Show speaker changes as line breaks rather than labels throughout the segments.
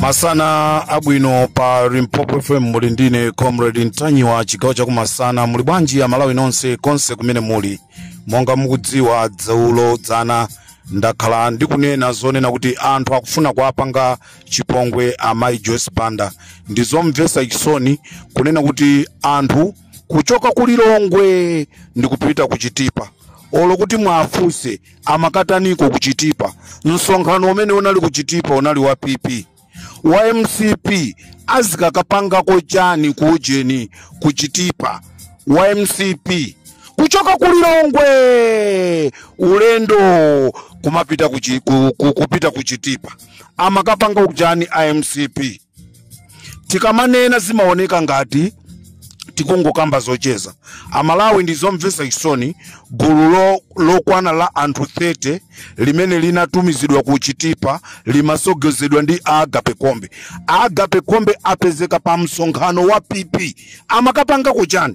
masana abwino pa limpopo fm muli ndine comrade ntanyiwa chigawo chakumasana muli bwanji amalawi nonse konse kumene muli monga mukudziwa dzaulo dzana ndakhala ndikunena zonena kuti anthu akufuna kuwapanga chipongwe amayi joyce banda ndi zomvetsa chisoni kunena kuti anthu kuchoka ku lilongwe ndikupita ku chitipa olo kuti mwafunse amakataniko ku chitipa msonkhano umene unali ku chitipa unali wa pp wa mcp azikakapangako chani ku ujeni ku chitipa wa mcp kuchoka ku lilongwe ulendo kumapita ku, chi- ku, ku, kupita ku chitipa amakapangako chani a mcp tikamanena zimaoneka ngati tikungokamba zocheza amalawi ndi zomvetsa chisoni gulu lo- lokwana la anthu 30 limene linatumizidwa ku chitipa limasogozedwa ndi agape kombe agape kombe apezeka pa msonkhano wa pp amakapangako chani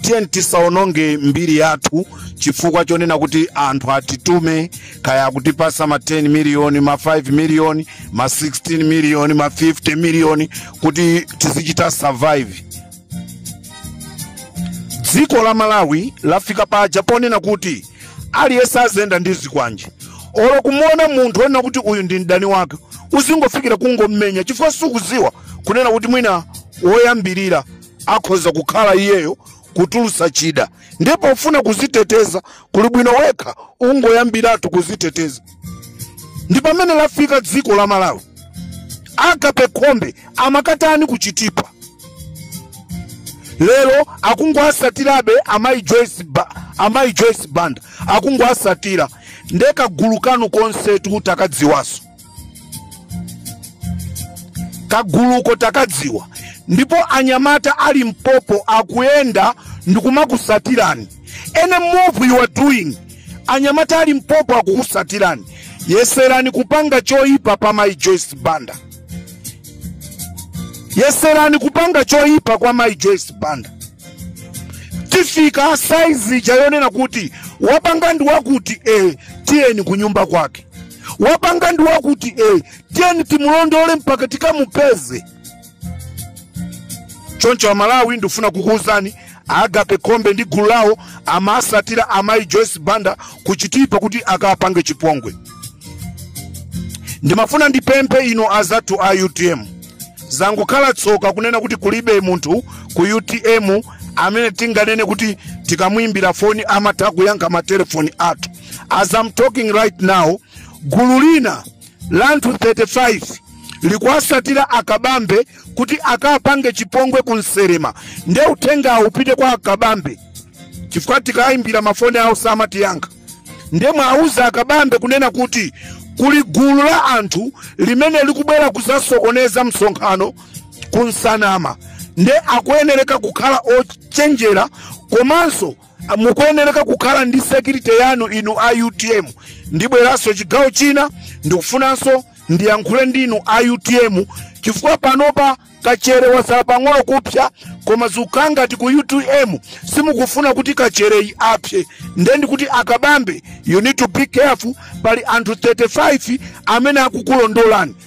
tiyeni tisaononge mbiri yathu chifukwa chonena kuti anthu atitume kaya akutipasa ma 10 miliyoni ma 5 miliyoni ma 16 miliyoni ma 50 miliyoni kuti tizichita survive dziko la malawi lafika paja ponena kuti aliyense aziyenda ndi zikwanje olo kumuona munthu onena kuti uyu ndi mdani wake uzingofikira kungommenya chifukwa sukuziwa kunena kuti mwina woyambirira akhoza kukhala iyeyo kutulutsa chida ndi pofuna kuziteteza kuli bwino wekha ungoyambiratu kuziteteza ndi pamene lafika dziko la malawi agape khombe amakatani kuchitipa lero akungoasatirabe amayi joyce ba, amayi joyce banda akungoasatira nde kagulu kanu konsetu takadziwaso kaguluko takadziwa ndipo anyamata a limpopo akuyenda ndikumakusatirani any move you are doing anyamata a limpopo akukusatirani yeserani kupanga choyipa pa mai joyce banda yeserani kupanga choyipa kwa mai joyce banda tifika size ija yonena kuti wapanga ndi wakuti eh, tiyeni kunyumba kwake wapanga ndi wakuti e tiyeni timulondole mpaka tikamupeze choncho amalawi ndifuna kukuwuzani agape kombe ndi gulu lawo amasatira amayi joyce banda kuchitipa kuti akapange chipongwe ndimafuna ndipemphe inu azathu a utm zangokhala tsoka kunena kuti kulibe munthu ku utm amene tinganene kuti tikamuimbira foni amatha kuyankha matelefoni athu as I'm talking right now gulu lina la anthu 35 likuwasatira akabambe kuti akapange chipongwe ku Nselema nde uthengawo upite kwa akabambe chifukwa tikayimbira mafoni awo samatiyankha nde muwauze akabambe kunena kuti kuli gulu la anthu limene likubwera kuzasokoneza msonkhano ku Nsanama nde akuyenereka kukhala ochenjera komanso mukuyenereka kukhala ndi security yanu inu a utm ndibweranso chigawo china ndikufunanso ndiyankhule ndinu a utm chifukwa panopa kachere wasala pang'ono kupsa koma zikukhala ngati ku utm simukufuna kuti kachereyi apse nde ndikuti akabambe you need to be careful pali anthu 35 amene akukulondolani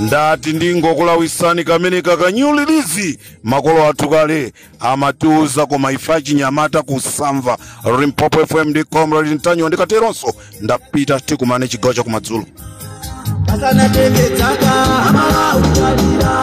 ndati ndingokulawisani kamene ka new release makolo athu kale amatiuza koma ife achinyamata kusamva Limpopo fm ndi comrade ntanyiwa ndikateronso ndapita tikumane chigawo chakumadzulo asanatenge dzaka aMalawi talira